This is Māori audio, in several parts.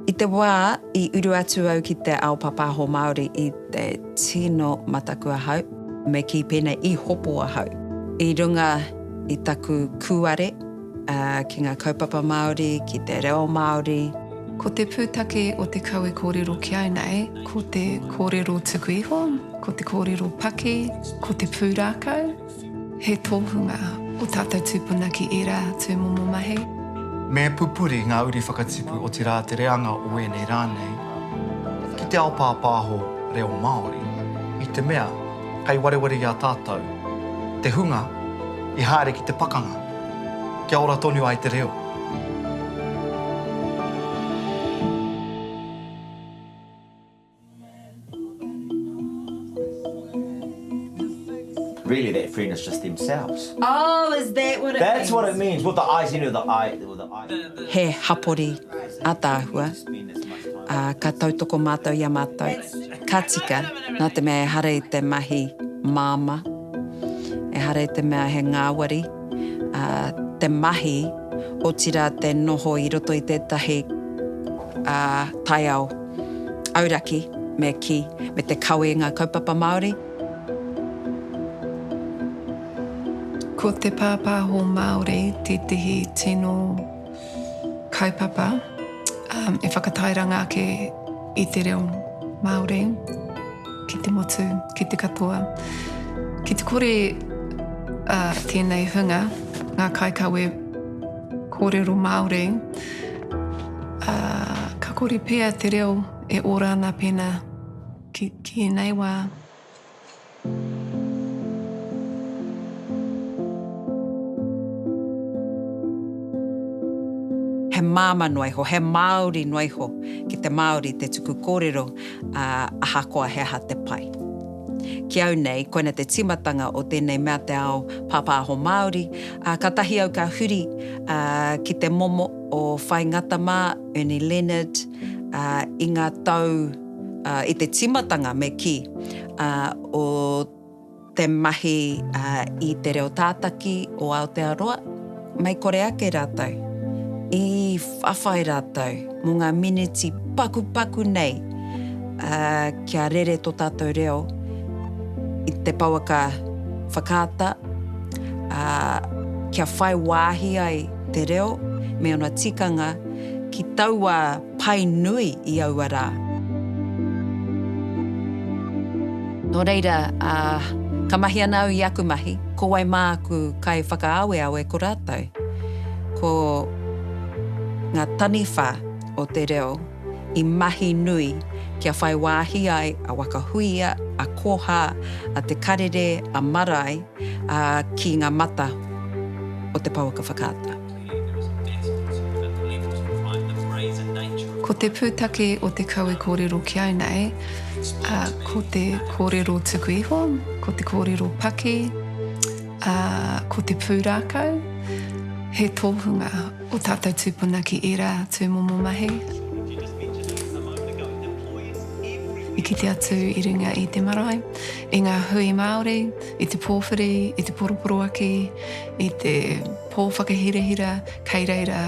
I te wā i uru atu au ki te ao pāpāho Māori i te tino mataku ahau. Me kī pēnei, i hopo ahau i runga i taku kūare ki ngā kaupapa Māori, ki te reo Māori. Ko te pūtake o te kau e kōrero ki au nei, ko te kōrero tuku iho, ko te kōrero paki, ko te pūrākau. He tohunga o tātou tūpuna ki ērā tūmomo mahi. Me pupuri ngā uri whakatipu, otirā te reanga o ēnei rā nei, ki te ao pāpāho reo Māori, i te mea kei wareware i a tātou te hunga i haere ki te pakanga kia ora tonu ai te reo. Really that friend is just themselves. Oh is that what it means? That's what it means with the eyes you know the eye with the eye. He hapori ataahua a ka tautoko matou i a matou ka tika na te mea ehara i te mahi mama ehara i te mea he ngawari a te mahi otira te noho i roto i tetahi a taiao. Auraki, me kī, me te kawe i ngā kaupapa Māori. Ko te pāpāho Māori tētehi tino kaupapa e whakatairanga ake i te reo Māori ki te motu, ki te katoa. Ki te kore tēnei hunga, ngā kaikawe, Kōrero Māori, ā, ka kore pea te reo e ora ana pēnā ki, ki ēnei wā. He māmā noa iho, he Māori noa iho ki te Māori te tuku kōrero, ā, ahakoa he aha te pai. Ki au nei, koina te timatanga o tēnei mea te ao pāpāho Māori, ā, katahi au ka huri, ā, ki te momo o Whai Ngata mā, Ernie Leonard, ā, i ngā tau, ā, i te timatanga me kī, ā, o te mahi, ā, i te reo tātaki o Aotearoa. Mei kore ake rātou, i whawhai rātou mō ngā miniti pakupaku nei kia rere tō tātou reo i te pouaka whakaata, ā, kia whai wāhi ai te reo me ōna tikanga ki taua. pai nui i aua rā. Nō reira, ka mahi ana au i aku mahi, ko wai māku kaiwhakaaweawe ko rātou? Ko ngā taniwha o te reo i mahi nui kia whai wāhi ai a Waka Huia, a Koha, a Te Karere, a Marae ki ngā mata o te pouaka whakaata. Ko te pūtake o te kawe kōrero ki au nei, ko te kōrero tuku iho, ko te kōrero paki, ā, ko te pūrākau. He tōhunga ō tātou tūpuna ki ērā tūmomo mahi. I kite atu i runga i te marae, i ngā hui Māori, i te pōwhiri, i te poroporoaki, i te. Pō whakahirahira kei reira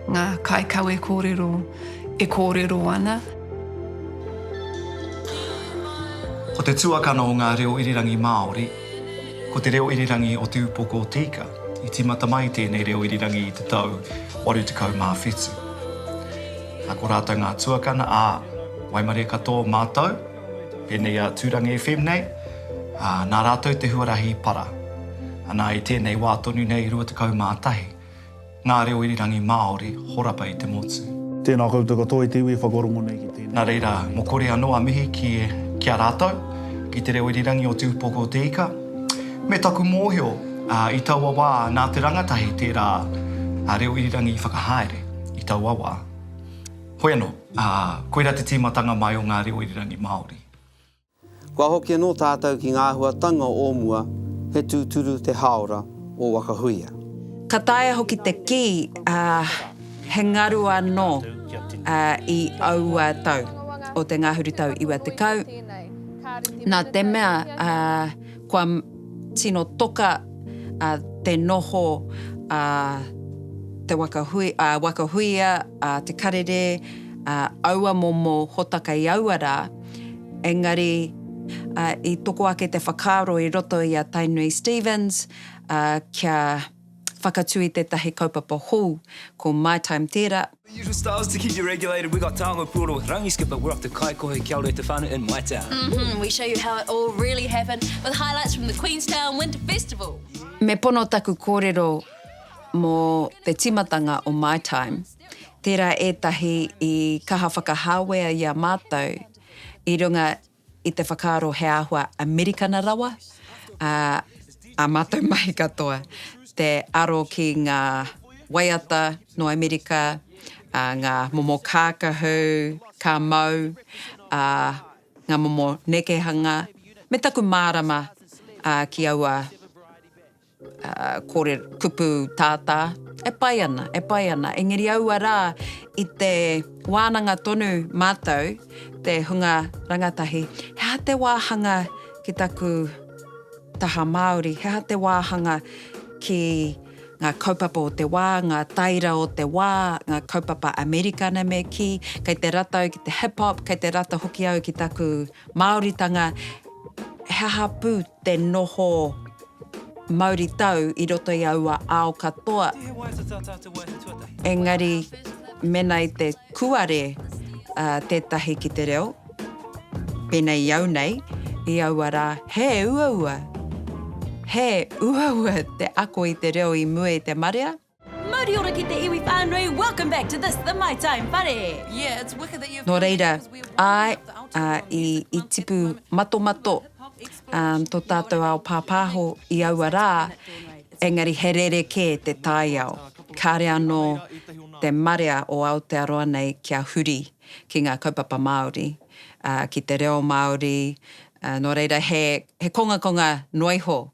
ngā kaikawe kōrero e kōrero ana. Ko te tuakana o ngā reo irirangi Māori, ko te reo irirangi o Te Upoko o Te Ika. I tīmata mai tēnei reo irirangi i te tau 87. Nā, ko rātou ngā tuakana, ā, waimarie katoa o mātou. Pēnei a Tūrangi FM nei, nā rātou te huarahi i para. Anā, i tēnei wā tonu nei, 21 ngā reo irirangi Māori horapa i te motu. Tēnā koutou katoa i te iwi e whakarongo nei ki tēnei. Nā reira, mō kore anō a mihi ki a rātou, ki te reo irirangi o Te Upoko o te Ika. Me taku mōhio, i taua wā, nā te rangatahi tērā reo irirangi i whakahaere, i taua wā. Hoi anō, ā, koirā te tīmatanga mai o ngā reo irirangi Māori. Kua hoki anō tātou ki ngā āhuatanga o mua, he tūturu te hāora o Wakahuia. Ka taea hoki te kī, ā, he ngaru anō, ā, i aua tau o te ngahurutau iwa tekau, nā te mea, ā, Kua tino toka te noho a Te Waka Huia, a Te Karere, a aua momo hota kei aua rā, engari i toko ake te whakaaro i roto i a Tainui Stephens kia whakatū i tētahi kaupapa hou, ko My Time tērā. Usual styles to keep you regulated. We got Taonga Puoro with Rangi Skipper. We're off to Kaikohe Kia Ora Te Whānau in my town. Mm -hmm. We show you how it all really happened with highlights from the Queenstown Winter Festival. Me pono taku kōrero mō te timatanga o My Time. Tērā ētahi i kaha whakahāwea i a mātou i runga i te whakaaro he āhua Amerikana rawa, ā, ā mātou mahi katoa, te aro ki ngā waiata nō Amerika, ā, ngā momo kākahu, ka mau, ā, ngā momo nekehanga, me taku mārama, ā, ki aua. Kore kupu tātā, e pai ana, e pai ana. Engeri aua rā, i te wānanga tonu mātou, te hunga rangatahi, he aha te wāhanga ki taku taha Māori, he aha te wāhanga ki ngā kaupapa o te wā, ngā taira o te wā, ngā kaupapa Amerikana me kī, kei te rata au ki te hip hop, kei te rata hoki au ki taku Māoritanga, he aha pū? te noho mauritau i roto i aua ao katoa, engari mena i te kuare tētahi ki te reo, pēnei i au nei, i aua rā, he uaua, he uaua te ako i te reo i mua i te marea. Mauri ora ki te iwi whānui, welcome back to this, the My Time Whare. Nō reira, āe, ā, i, i tipu matomato um, tō tātou ao pāpāho i aua rā, engari he rere kē te taiao. Kāre anō te marea o Aotearoa nei kia huri ki ngā kaupapa Māori, uh, ki te reo Māori, uh, nō reira he, he kongakonga noiho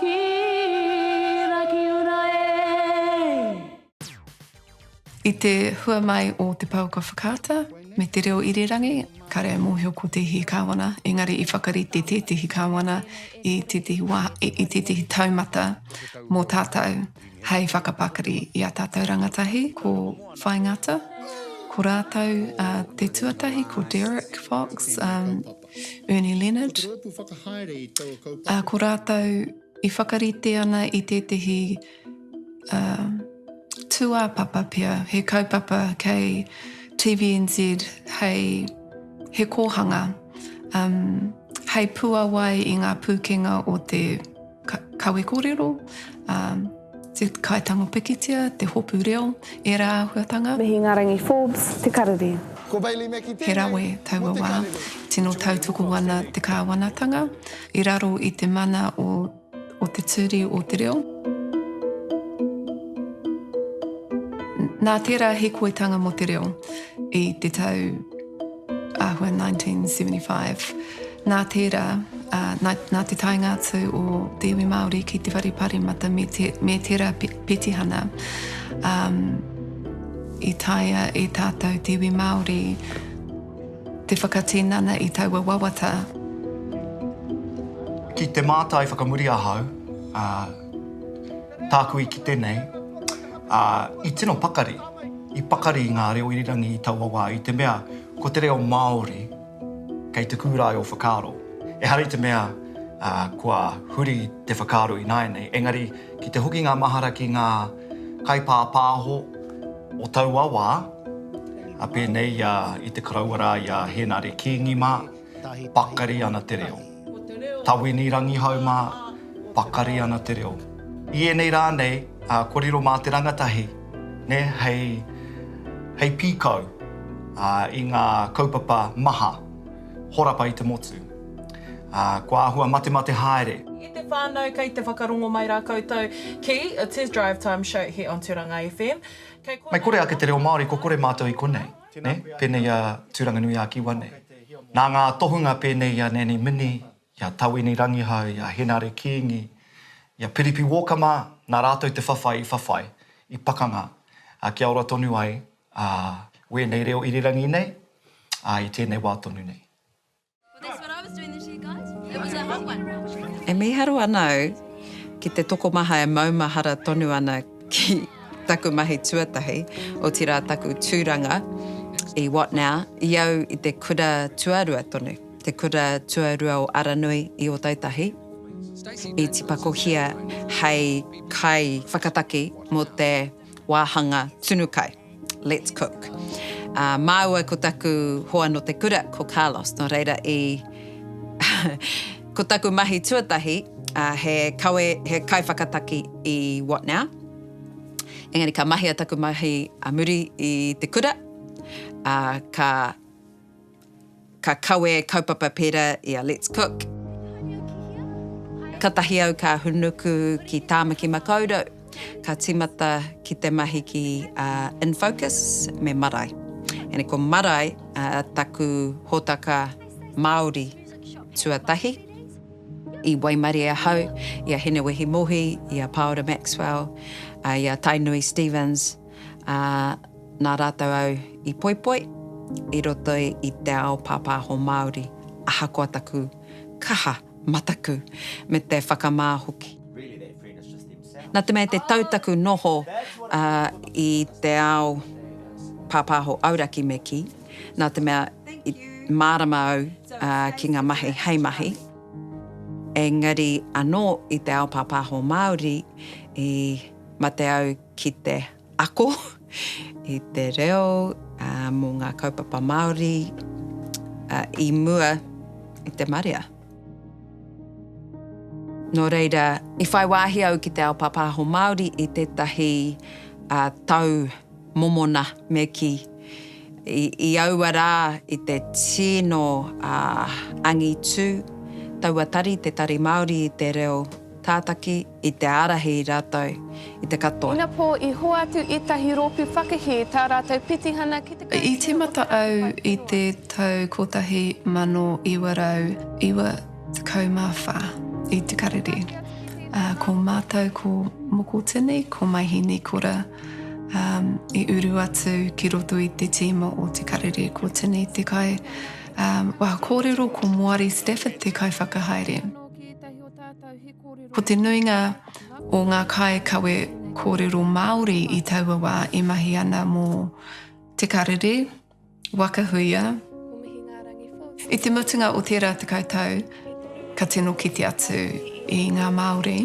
Ki Rakiura e! I te hua mai o Te Pouaka Whakaata me Te Reo Irirangi, kāre e mōhio ko tēhi kāwana, engari i whakarite tētehi kāwana i tētehi wā, i tētehi taumata mō tātou hei whakapakari i ā tātou rangatahi, ko Whai Ngata, ko rātou te tuatahi ko Derek Fox, Ernie Leonard, ā, ko rātou i whakarite ana i tētehi uh, tūāpapa pea, he kaupapa kei TVNZ hei he kōhanga, um, hei puawai i ngā pūkenga o te Ka, kawe korero, um, te kaitango pikitia, te hopu reo, e rā ahuatanga. Mihi Ngarangi Forbes, te karere. Ko Bailey Meki tēnei. He rawe taua wā, tino tautoko ana te kāwanatanga, i raro i te mana o, o te turi o te reo. Nā tērā hikoitanga mō te reo i te tau Āhua 1975. Nā tērā, nā te taenga atu o te iwi Māori ki te whare paremata me tērā petihana, i taea e tātou te iwi Māori te whakatinana i taua wawata. Ki te mātai whakamuri ahau, Tāku i kite nei, ā, i tino pakari, i pakari i ngā reo irirangi i taua wā, i te mea ko te reo Māori kei te kūrae o whakaaro. Ehara i te mea kua huri te whakaaro ināianei, engari ki te hoki ngā mahara ki ngā kaipāpāho o taua wā, pēnei i a, i te Koroua rā, i a Hēnare Kīngi mā, Pakari ana te reo. Tawini Rangihau mā, pakari ana te reo. I ēnei rā nei, kua riro mā te rangatahi hei pīkau i ngā kaupapa maha, horapa i te motu. Kua āhua matemate haere. I te whānau, kei te whakarongo mai rā koutou ki Test Drive Time Show here on Tūranga FM. Kei konei. Mei kore ake te reo Māori, kua kore mātou i konei. Tēnā koe a. Pēnei a Tūranganui-ā-Kiwa nei. Nā ngā tohunga pēnei i a Nanny Mini, i a Tawini Rangihau, i a Henare Kīngi, i a Piripi Walker mā, nā rātou te whawhai i whawhai, i pakanga, kia ora tonu ai wēnei reo irirangi nei i tēnei wā tonu nei. E mīharo ana au ki te tokomaha e maumahara tonu ana ki taku mahi tuatahi, otirā taku tūranga i What Now i au i te kura tuarua tonu, te kura tuarua o Aranui i Ōtautahi, i tipakohia hei kaiwhakataki mō te wāhanga tunu kai. Let's cook. Ā, māua ko taku hoa nō te kura, ko Carlos, nō reira i ko taku mahi tuatahi, ā, he kawe, he kaiwhakataki i What Now. Engari ka mahia taku mahi a muri i te kura, ā, ka. Ka kawe kaupapa pera i a Let's Cook. Katahi au ka hunuku ki Tāmaki Makaurau, ka timata ki te mahi ki a Infocus me Marae. Ēnei ko Marae taku hōtaka Māori tuatahi. I waimarie ahau i a Hinewehi Mohi, i a Paora Maxwell, i a Tainui Stephens. ā, nā rātou au i poipoi i roto i te ao pāpāho Māori, ahakoa taku kaha mataku me te whakamā hoki. Nā te mea i te tau taku noho i te ao pāpāho auraki me kī, nā te mea i mārama au ki ngā mahi hei mahi, engari anō i te ao pāpāho Māori i mate au ki te ako i te reo mō ngā kaupapa Māori i mua i te marea. Nō reira, i whai wāhi au ki te ao pāpāho Māori i tētahi tau momona me kī, i aua rā i te tino angitu, taua tari, te Tari Māori i te Reo Tātaki, I te ārahi i rātou i te katoa. Ina pō i hoatu ētahi rōpū whakahē tā rātou petihana ki te Kaupapa o Te Arawa. I tīmata au i te tau 1994 i Te Karere, ā, ko mātou ko Mokotini, ko Maihinikora, ā, i uru atu ki roto i te tīma o Te Karere, ko Tini te kai, ā, wā kōrero, ko Moari Stafford te kaiwhakahaere. Ko te nuinga o ngā kāikawe kōrero Māori i taua wā e mahi ana mō Te Karere, Waka Huia. I te mutunga o tērā tekau tau, ka tino kite atu i ngā Māori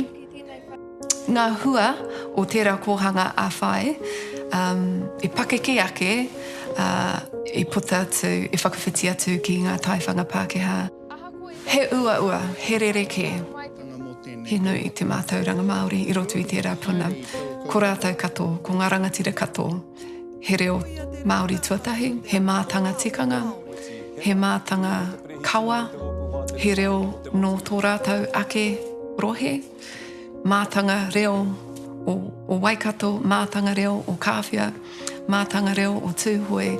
ngā hua o tērā kōhanga ā-whai e pakeke ake, i puta atu, i whakawhiti atu ki ngā taiwhanga Pākehā. He uaua, he rerekē, he nui te mātauranga Māori i roto i tērā puna. Ko rātou kato, ko ngā rangatira kato, he reo Māori tuatahi, he mātanga tikanga, he mātanga kawa, he reo nō tō rātou ake rohe. mātanga reo o, o Waikato, mātanga reo o Kāwhia, mātanga reo o Tūhoe.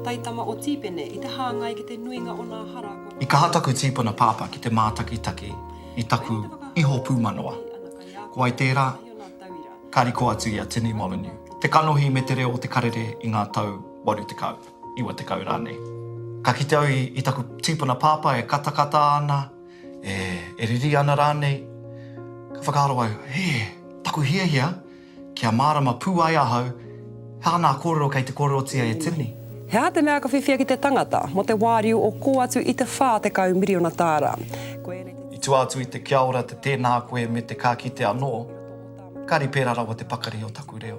Taitama o Tīpene i te hāngai ki te nuinga o nā hara kua. I kaha taku tīpuna pāpā ki te mātakitaki i taku iho pūmanawa. Ko wai tērā? Ka riko atu i a Tini Molyneux, te kanohi me te reo o Te Karere i ngā tau 80, 90 rānei. Ka kite au i, i taku tīpuna pāpā e katakata ana, E, e riri ana rānei? Ka whakaaro au, he, taku hiahia, kia mārama pū ai ahau, he aha nā kōrero kei te kōrerotia e Tierney? He aha te mea ka whiwhia ki te tangata mō te wāriu o kō atu i te 40 miriona tāra? Ko ēnei te. I tua atu i te kia ora, te tēnā koe me te ka kite anō, kāre pērā rawa te pakari o taku reo.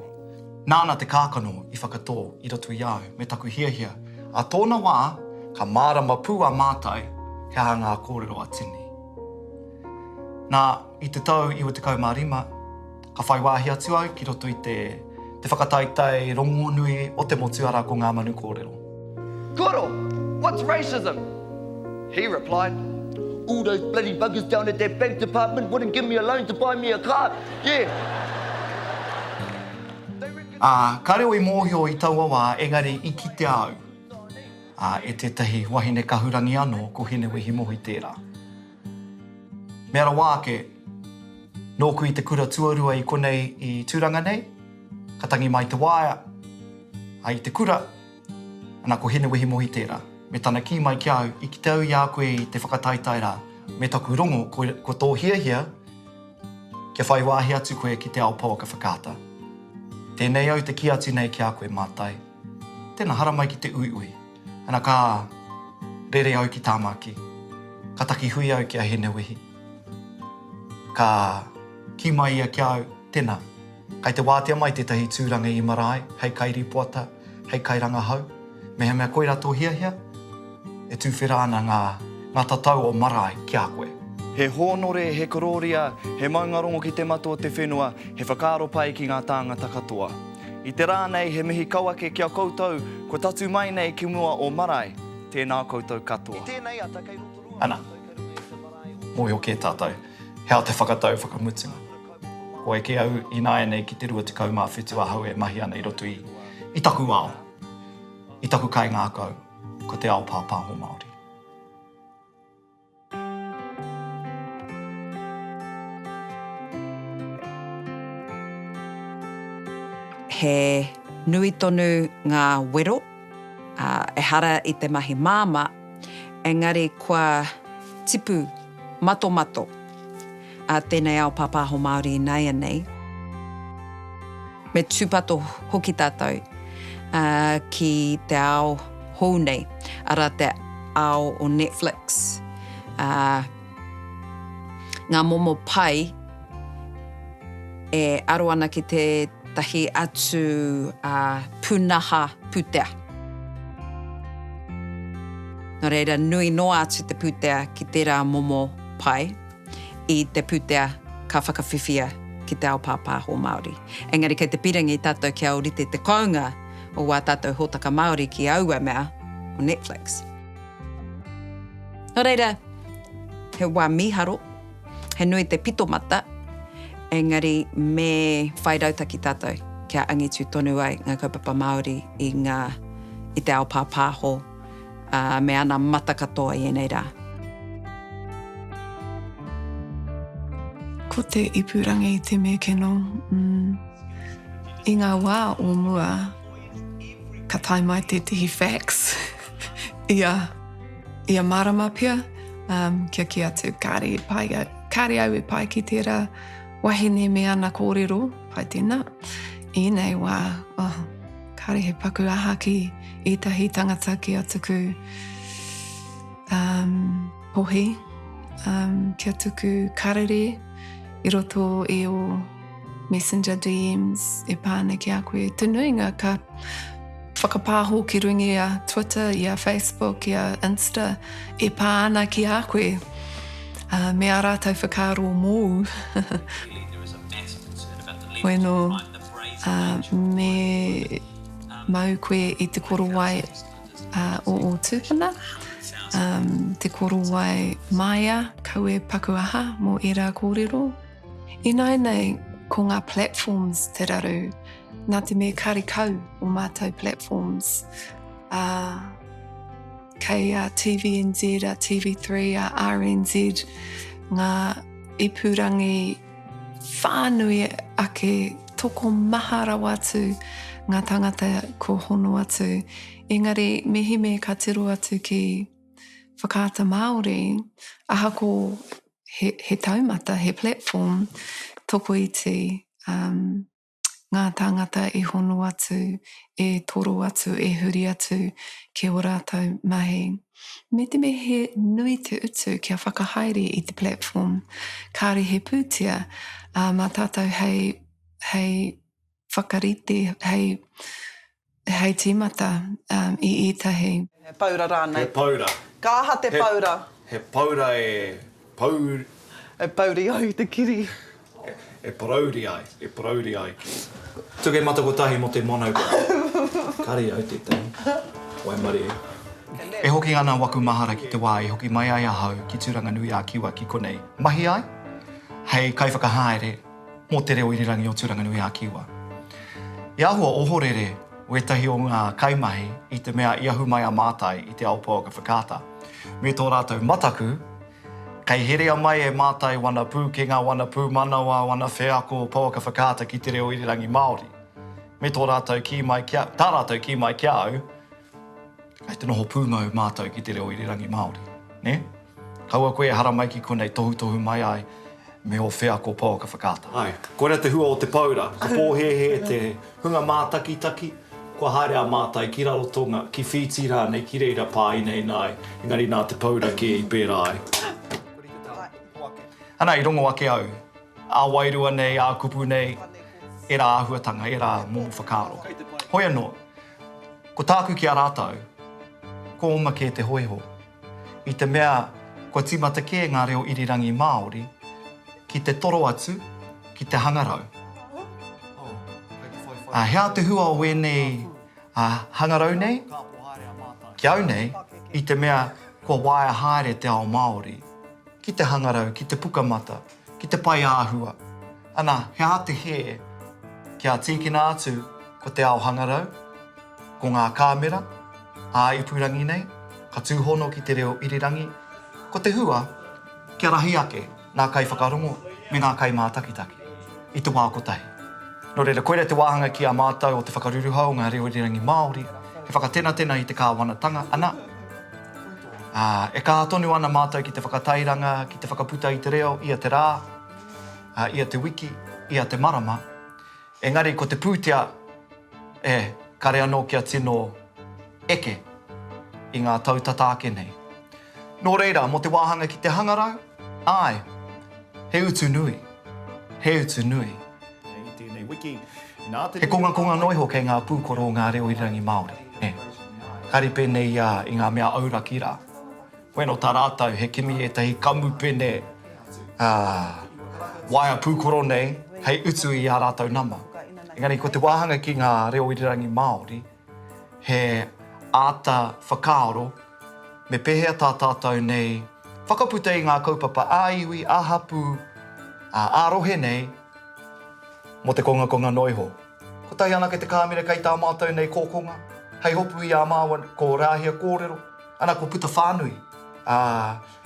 Nāna te kākano i whakatō i roto i a au me taku hiahia. Ā tōna wā, ka mārama pū a mātai he aha ngā kōrero a Tini. Nā, i te tau 95, ka whai wāhi atu au ki roto i te te whakataetae rongonui o te motu arā ko Ngā Manu Kōrero. Koro, what's racism? He replied, All those bloody buggers down at that bank department wouldn't give me a loan to buy me a car, yeah. Ā, ka reo i mōhio i taua wā, engari i kitea au, ā, e tētahi wahine kahurangi anō, ko Hinewehi Mohi tērā. Mea rawa ake, nōku i te kura tuarua i konei i Tūranga nei, Ka tangi mai te waea, a i te kura, ana ko Hinewehi Mohi tērā. Me tana kī mai ki a au, i kite au i a koe i te whakataetae rā, me taku rongo ko tō hiahia kia whai wāhi atu koe ki te ao pouaka whakaata. Tēnei au te kī atu nei ki a koe mātai, tena haramai ki te uiui. Ana ka rere au ki Tāmaki, ka takihui au ki a Hinewehi. Ka kī mai ia ki a au, Tena, kai te wātea mai tētahi tūranga i marae hei kairīpoata, hei kairangahau, mehemea koirā tō hiahia, e tūwhera ana ngā ngā tatau o marae ki a koe. He hōnore, he korōria, he maungarongo ki te matua o te whenua, he whakaaro pai ki ngā tāngata katoa. I te rā nei he mihi kau ake ki a koutou kua tatū mai nei ki mua o marae, tēnā koutou katoa. I tēnei ata kei rotorua Ana. koutou kei runga i te marae o. Mōhio kē tātou, he aha te whakatau whakamutunga? Ko eke au ināianei ki te 27 ahau e mahi ana i roto i, i taku ao, i taku kaingākau, ko te ao pāpāho Māori. He nui tonu ngā wero, ehara i te mahi māmā, engari kua tipu matomato. a tēnei ao pāpāho Māori ināianei. Me tūpato hoki tātou ki te ao hou nei, arā te ao o Netflix, ngā momo pai e aro ana ki tētahi atu pūnaha pūtea. Nō reira, nui noa atu te pūtea ki tērā momo pai. i te pūtea ka whakawhiwhia ki te ao pāpāho Māori. Engari kei te pirangi tātou kia ōrite te kounga o wā tātou hōtaka Māori ki aua mea o Netflix. Nō reira, he wā mīharo, he nui te pito mata, engari me whai rautaki tātou kia angitu tonu ai ngā kaupapa Māori i ngā, i te ao pāpāho. ā, me ana mata katoa i ēnei rā. Ko te ipurangi te mekeno, mm. I ngā wā o mua, ka tae mai tētehi fax, ia, ia marama pea, um, kia ki atu, kāre e pai, kāre au e pai ki tērā wahine me ana kōrero, pai tēnā, ēnei wā, oh, Kāre he paku aha ki ētahi tangata ki a tuku um, pohi, um, ki a tuku karere i roto i o messenger DMs e pāna ki a koe. Te nuinga ka whakapāho ki rungi a Twitter, i a Facebook, i a Insta e pāna ki a koe. Uh, me a rātou whakaaro mōu. Bueno, ā, me mau koe i te korowai ā, o ō tūpuna, ā, te korowai māia, kawe, paku aha, mō ērā kōrero. Ināinei, ko ngā platforms te raru, nā te mea kāre kau o mātou platforms, ā, kei a TVNZ, a TV3, a RNZ, ngā ipurangi, Whānui ake, tokomaha rawa atu ngā tāngata kua hono atu. Engari, mehemea ka tiro atu ki Whakaata Māori, ahako he taumata, he platform, tokoiti, ngā tāngata e hono atu, e toro atu, e huri atu ki ō rātou mahi. Me te mea he nui te utu kia whakahaere i te platform, kāore he pūtea mā tātou hei whakarite, hei Hei tīmata i ētahi. He paura rānei? He paura. Ka aha te paura? He paura e pauri. E pauri ai te kiri. E parauri ai, e parauri ai ki. Tukemata kotahi mō te mono ka. Kari au tētahi. Waimarie. E hoki ana waku mahara ki te wā i hoki mai ai ahau ki Tūranganui-ā-Kiwa ki konei. Mahi ai hei kaiwhakahaere. mō te reo irirangi o Tūranganui a Kiwa. I āhua ohorere wētahi o ngā kaimahi i te mea i ahu mai a Mātai i te ao pouaka whakaata. Me tō rātou mataku, kei herea mai e Mātai wana pūkenga, wana pūmanawa, wana wheako pouaka whakaata ki te reo irirangi Māori. Me tō rātou kī mai kia, tā rātou kī mai ki a au, Kei te noho pūmau mātou ki te reo irirangi Māori, nē? Kaua koe e haramai ki konei tohutohu mai ai me ō wheako pouaka whakaata. Āe, koirā te hua o te paura, ka pōhēhē te hunga mātakitaki, kua haere a mātai ki Rarotonga, ki Whītī rānei, ki reira pā inaina ai, engari nā te paura kē i pērā ai. Ana, i rongo ake au, ā wairua nei, ā kupu nei, ērā āhuatanga, ērā momo whakaaro. Hoi anō, Ko tāku ki a rātou, ko oma kē te hōiho, i te mea kua tīmata kē ngā reo irirangi Māori ki te toro atu ki te hangarau. Ā, he aha te hua o ēnei hangarau nei ki au nei i te mea kua waea haere te ao Māori ki te hangarau, ki te pukamata? Ki te pae āhua. Ana, he aha te hē? Kia tīkina atu ko te ao hangarau, ko ngā kāmera, ā-ipurangi nei, ka tūhono ki te reo irirangi, ko te hua, kia rahi ake ngā kaiwhakarongo me ngā kaimātakitaki i te wā kotahi. Nō reira, koirā te wāhanga ki a mātou o te whakaruruhau o ngā reo irirangi Māori, he whakatenatena i te kāwanatanga, ana, Ā, e kaha tonu ana mātou ki te whakatairanga, ki te whakaputa i te reo, ia te rā, ā, ia te wiki, ia te marama. Engari ko te pūtea, e, kare anō kia tino eke i ngā tau tata ake nei. Nō reira, mō te wāhanga ki te hangarau, āe, he utu nui, he utu nui. He kongakonga noa iho kei ngā pūkoro o ngā reo irirangi Māori, nē. Kāre pēnei ia i ngā mea auraki rā. Koe nō tā rātou, he kimi ētahi kamupene waea pūkoro nei hei utu i ā rātou nama. Engari ko te wāhanga ki ngā reo irirangi Māori, He āta whakaaro me pēhea tā tātou nei whakaputa i ngā kaupapa ā-iwi, ā-hapū, ā-rohe nei mō te kongakonga noa iho. Kotahi anake te kāmera kei tā mātou nei kōkonga, hei hopu i a māua ko Rāhia kōrero, ana kua puta whānui, ā,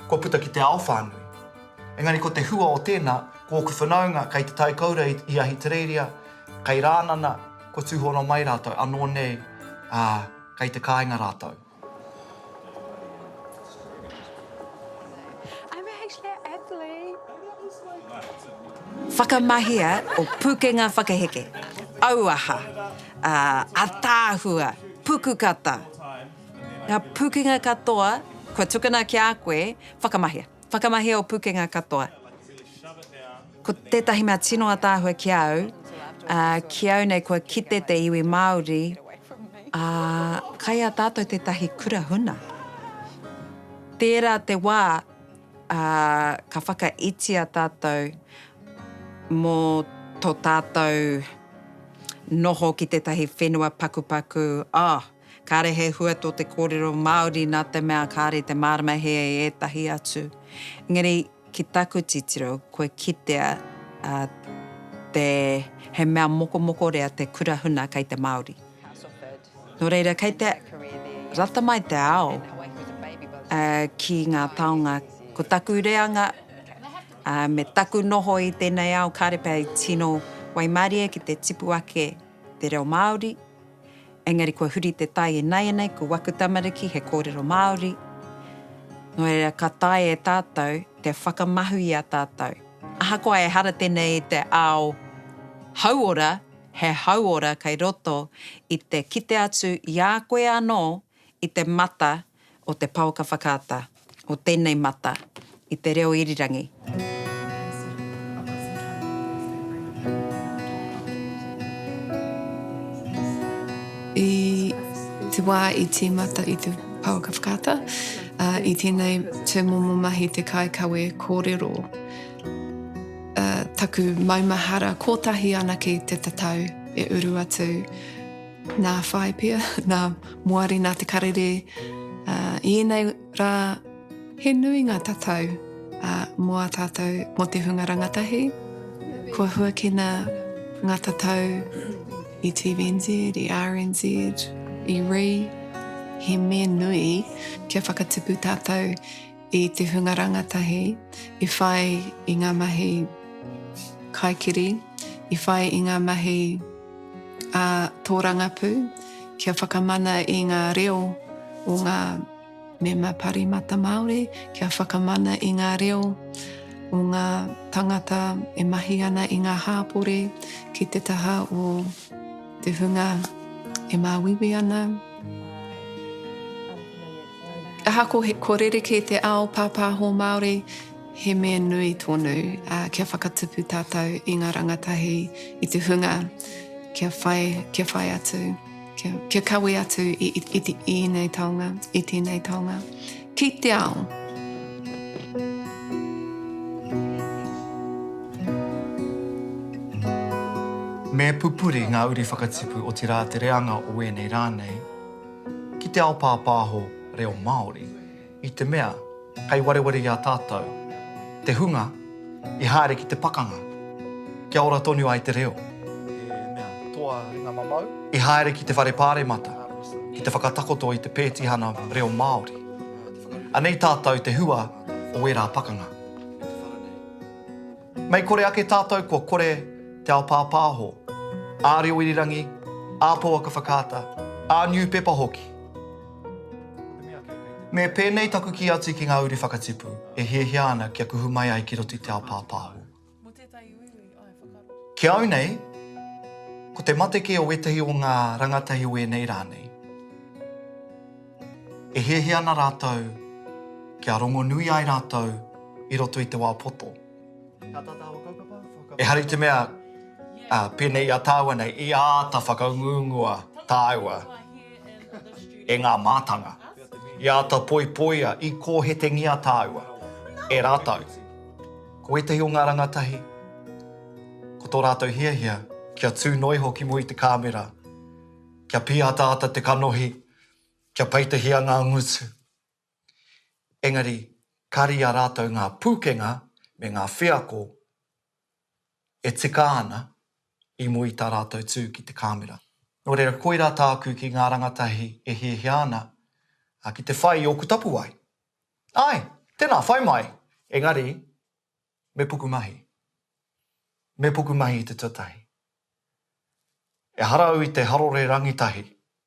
kua puta ki te ao whānui. Engari ko te hua o tēnā, ko ōku whanaunga kei Te Tai Kōura i Ahitereiria, kei Rānana, Kua tūhono mai rātou, anō nei, ā, kei te kāinga rātou. Whakamahia o Pūkenga Whakaheke, Auaha, ā, Ataahua, Pukukata, ngā pūkenga katoa kua tukuna ki a koe, whakamahia. Whakamahi o Pukenga katoa. Ko tētahi mea tino ataahua ki a au, ā, ki au nei kua kite te iwi Māori, ā, kai a tātou tētahi kura huna. Tērā te wā, ā, ka whakaitia tātou mō tō tātou noho ki tētahi whenua pakupaku, oh, Kāre he hua tō te kōrero Māori nā te mea kāre te mārama hē e ētahi atu. Engari, ki taku titiro, kua kitea te he mea mokomokorea te kura huna kei te Māori. Nō reira, kei te rata mai te ao ki ngā taonga. Ko taku reanga me taku noho i tēnei ao kāre pea i tino waimarie ki te tipu ake te reo Māori. Engari kua huri te tai inaianei ko waku tamariki he kōrero Māori, nō reira ka taea e tātou te whakamahu i a tātou. Ahakoa ehara tēnei i te ao hauora, he hauora kei roto i te kite atu i a koe anō i te mata o te paoka whakaata o tēnei mata i te reo irirangi. I te wā i tīmata i te paoka whakaata, i tēnei tūmomo mahi te kaikawe kōrero, taku maumahara kōtahi anake te tatau e uru atu. Nā whai pea, nā Moari, nā Te Karere, i ēnei rā he nui ngā tatau mō a tātou, mō te hunga rangatahi. Kua huakina ngā tatau i TVNZ, i RNZ, i Rī, he mea nui kia whakatipu tātou i te hunga rangatahi i whai i ngā mahi kaikiri, i whai i ngā mahi a tōrangapū kia whakamana i ngā reo o ngā mema parimata Māori, kia whakamana i ngā reo o ngā tangata e mahi ana i ngā hāpore ki te taha o te hunga e māuiui ana. Ahakoa ko rerekē te ao pāpāho Māori, he mea nui tonu kia whakatupu tātou i ngā rangatahi, i te hunga kia whai, kia whai atu, kia, kia kawe atu i, i, i, i ēnei taonga, i tēnei taonga. Ki te ao! Me pupuri ngā uri whakatipu, otirā te reanga o ēnei rā nei. ki te ao pāpāho reo Māori, i te mea kei wareware i a tātou te hunga i haere ki te pakanga kia ora tonu ai te reo, he mea toa ringa mamau, i haere ki te whare pāremata ki te whakatakoto i te pētihana reo Māori. Anei tātou te hua o ērā pakanga. Mei kore ake tātou kua kore te ao pāpāho, ā reo irirangi, ā pouaka whakaata, ā niupepa hoki. Me pēnei taku kī atu ki ngā uri whakatipu e hiahia ana kia kuhu mai ai ki roto i te ao pāpāho. Ki au nei, ko te mate kē o ētahi o ngā rangatahi o ēnei rā nei. E hiahia ana rātou kia rongonui ai rātou i roto i te wā poto. Ehara i te mea, pēnei i a tāua nei, i āta whakaunguungua tāua e ngā mātanga, i āta poipoia, i kōhetengia tāua e rātou. Ko ētahi o ngā rangatahi, ko tō rātou hiahia kia tū noa iho ki mua i te kāmera, kia pīataata te kanohi, kia peitahia ngā ngutu. Engari, ka rīa rātou ngā pūkenga me ngā wheako e tika ana i mua i tā rātou tū ki te kāmera. Nō reira, koirā tāku ki ngā rangatahi e hiahia ana ki te whai i ōku tapuwae. Āe, tēnā, whai mai! Engari, me pukumahi. Me pukumahi i te tuatahi. Ehara au i te harore rangitahi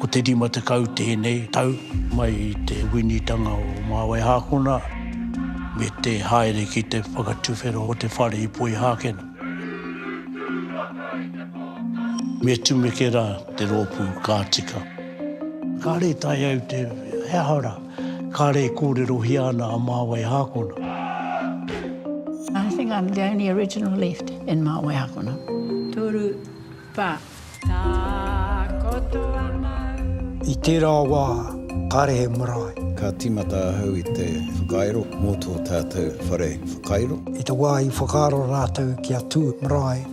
Ko te 50 tēnei tau mai i te winitanga o Māwaihākona me te haere ki te whakatuwhera o te whare i Poihākena. Me tumeke rā te rōpū ka tika. Kāre tae au te, he aha rā? Kāre e kōrerohia ana a Māwai Hākona. I think I'm the only original left in Māwai Hākona. Tūru, whā. Takoto a Māui. I tērā wā, kāre he marae. Ka tīmata ahau i te whakairo mō tō tātou whare whakairo. I te wā i whakaaro rātou kia tū marae.